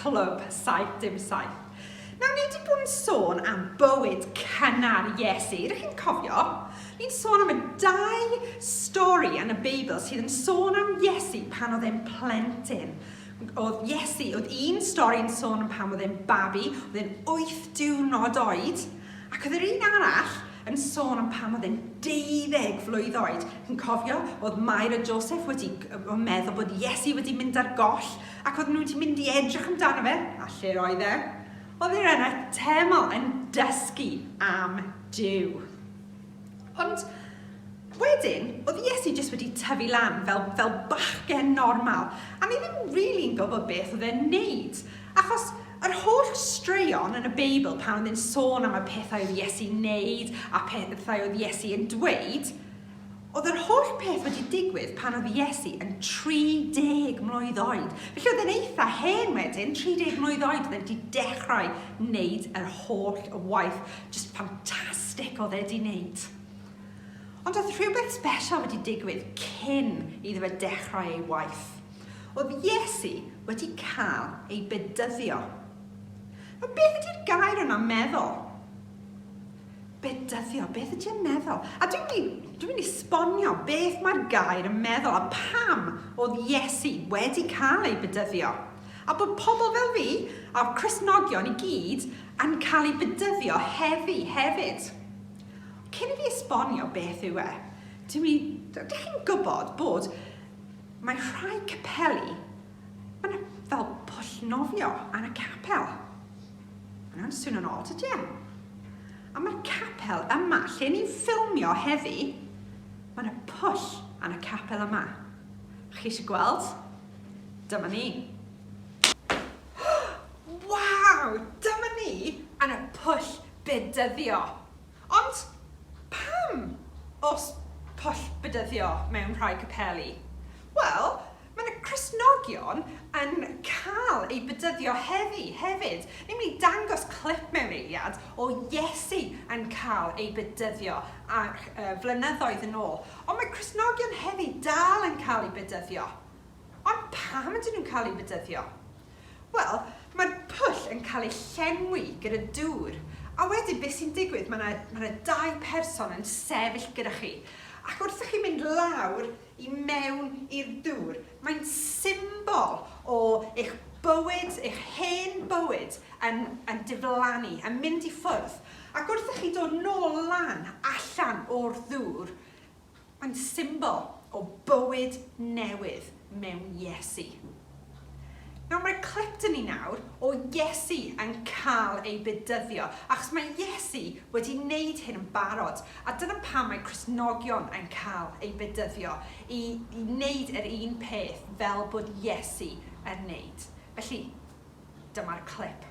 Clwb 77. Nawr, ni wedi bod yn sôn am bywyd cynnar Iesu. Rydych chi'n cofio? Ni'n sôn am y dau stori yn y Beibl sydd yn sôn am Iesu pan oedd e'n plentyn. Oedd Iesu, oedd un stori'n sôn am pam oedd e'n babi, oedd e'n wyth diwrnod oed, ac oedd yr un arall yn sôn am pam oedd e'n deuddeg flwydd oed. Chi'n cofio, oedd Mair a Joseph wedi meddwl bod Iesu wedi mynd ar goll, ac oedd nhw wedi mynd i edrych amdano fe, a lle oedd e? Oedd e yn y teml yn dysgu am Dyw. Ond wedyn, oedd Iesu jyst wedi tyfu lan fel, fel bachgen normal, a ni ddim rili'n really gwybod beth oedd e'n neud. Achos yr holl straeon yn y Beibl pan oedd e'n sôn am y pethau oedd Iesu'n neud a pethau oedd Iesu yn dweud, oedd yr holl peth wedi digwydd pan oedd Iesu yn 30 mlwydd oed. Felly oedd e'n eitha hen wedyn, 30 mlwydd oed, oedd e'n wedi dechrau wneud yr holl waith Jyst ffantastig oedd e 'di wneud. Ond oedd rhywbeth sbesial wedi digwydd cyn iddo fe dechrau ei waith. Oedd Iesu wedi cael ei bedyddio. Nawr, beth ydy'r gair yna meddwl? Bedyddio, beth ydy'n meddwl? A dwi'n mynd, dwi mynd i sbonio beth mae'r gair yn meddwl a pam oedd Iesu wedi cael ei bedyddio. A bod pobl fel fi a'r Cresnogion i gyd Yn cael ei bedyddio heddi hefyd. Cyn i fi esbonio beth yw e, dw i, dych chi'n gwybod bod mae rhai capeli, mae yna fel pwll nofio yn y capel. Mae'n swnio'n od, ydy e? A mae'r capel yma, lle ni'n ffilmio heddi, mae yna pwll yn y capel yma. Chi eisiau gweld? Dyma ni. Hww! Waw! Dyma ni yn y pwll bedyddio! Ond pam oes pwll bedyddio mewn rhai capeli? Wel, mae yna Cristnogion yn cael eu bedyddio heddi hefyd. Ni'n mynd i dangos clip mewn eiliad o Iesu yn cael ei bedyddio ac yy flynyddoedd yn ôl. Ond mae Cristnogion heddi dal yn cael eu bedyddio. Ond pam ydyn nhw'n cael eu bedyddio? Wel, mae'r pwll yn cael ei llenwi gyda dŵr, a wedyn beth sy'n digwydd, mae 'na, mae 'na dau person yn sefyll gyda chi, ac wrth i chi mynd lawr i mewn i'r dŵr, mae'n symbol o eich bywyd, eich hen bywyd yn, yn diflannu, yn mynd i ffwrdd. Ac wrth i chi dod nôl lan allan o'r ddŵr, Mae'n symbol o bywyd newydd mewn Iesu. Nawr, mae clip dyn ni nawr o Iesu yn cael ei bedyddio, achos mae Iesu wedi wneud hyn yn barod, a dyna pam mae Cristnogion yn cael ei bedyddio, i, i wneud yr un peth fel bod Iesu yn wneud. Felly, Dyma'r clip.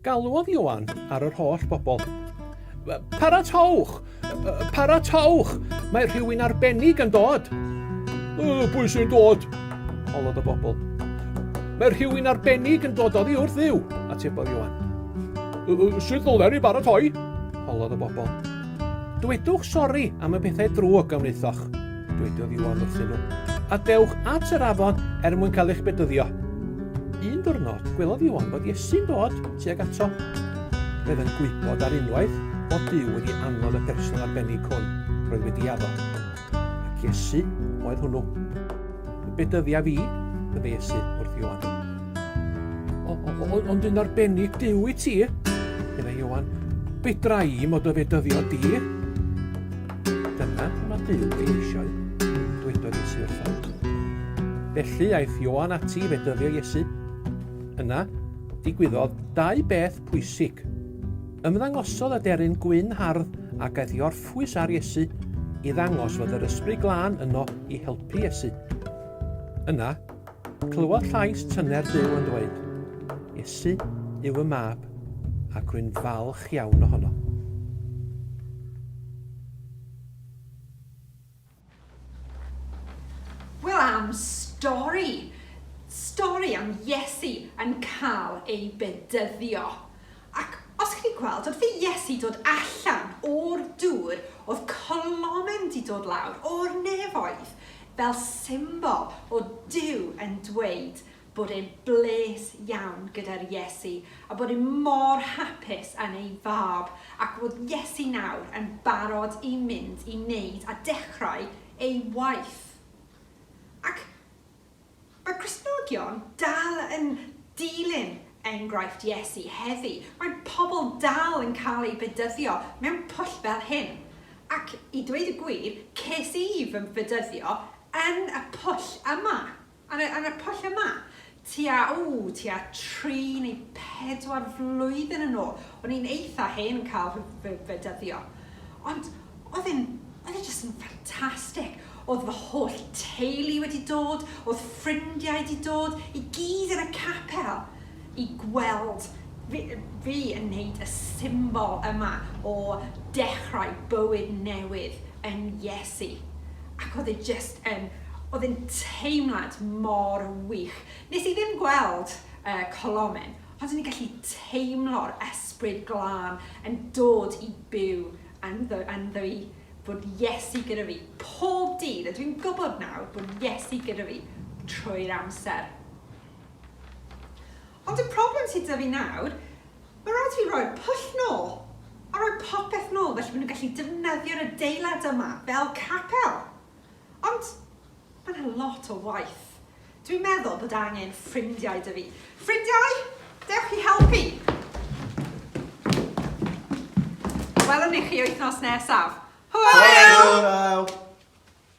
Galwodd Ioan ar yr holl bobl. Paratowch! Paratowch! Mae rhywun arbennig yn dod! Pwy sy'n dod? Holodd y bobl. Mae rhywun arbennig yn dod oddi wrth ddiw, atebodd Ioan. Sut ddylen ni baratoi? Holodd y bobl. Dwedwch sori am y pethau drwg a wnaethoch, dwedodd Iwan wrthyn nhw, a dewch at yr afon er mwyn cael eich bedyddio. Un diwrnod, gwelodd Iwan bod Iesu'n dod tuag ato. Roedd yn gwybod ar unwaith bod Duw wedi anfod y person arbennig hwn roedd wedi addo. ac Iesu oedd hwnnw. Yn bedyddiaf i, y Iesu wrth Ioan. Ond yn arbennig Dyw i ti, meddai Ioan, fedra i mod o fedyddio di. Dyna mae Dyw ei eisiau, dwedodd Iesu wrtho. Felly aeth Ioan ati i fedyddio Iesu. Yna, digwyddodd dau beth pwysig. Ymddangosodd y deryn gwyn hardd a gaeth i orffen hapus ar Iesu i ddangos fod yr Ysbryd Glân yno i helpu Iesu. Yna, clywodd llais tyner Duw yn dweud, Iesu yw fy mab, ac rwy'n falch iawn ohono. Wel am stori! Stori am Iesu yn cael ei bedyddio. Ac os chi 'di gweld, wrth i Iesu dod allan o'r dŵr, oedd colomyn 'di dod lawr o'r nefoedd, fel symbol o Duw yn dweud, bod e'n bles iawn gyda'r Iesu a bod e mor hapus yn ei Fab ac fod Iesu nawr yn barod i mynd i wneud a dechrau ei waith. Ac mae Cristnogion dal yn dilyn enghraifft Iesu heddi. Mae pobl dal yn cael eu bedyddio mewn pwll fel hyn. Ac i dweud y gwir, ces i fy mbedyddio yn y pwll yma. Ar y, ar y pwll yma, tua, o, tua tri neu pedwar flwyddyn yn ôl, o'n i'n eitha hen yn cael fy, fy, fy dyddio. Ond oedd e'n, oedd e jyst yn ffantastig. Oedd fy holl teulu wedi dod, oedd ffrindiau wedi dod, i gyd yn y capel. i gweld fi, fi yn wneud y symbol yma o dechrau bywyd newydd yn Iesu. Ac oedd e jyst yn, oedd e'n teimlad mor wych. Nes i ddim gweld y colomen, ond o'n i'n gallu teimlo'r Ysbryd Glân yn dod i byw ynddo, ynddo i, bod Iesu gyda fi pob dydd, a dwi'n gwybod nawr bod Iesu gyda fi trwy'r amser. Ond y problem sy 'da fi nawr, ma' raid fi roi'r pwll nôl, a roi popeth nôl felly ma' nhw'n gallu defnyddio'r adeilad yma fel capel. Ond ma' 'na lot o waith. Dwi'n meddwl bod angen ffrindiau 'da fi. Ffrindiau, dewch i helpu! Welwn ni chi wythnos nesaf. Hwyl! Hwyl!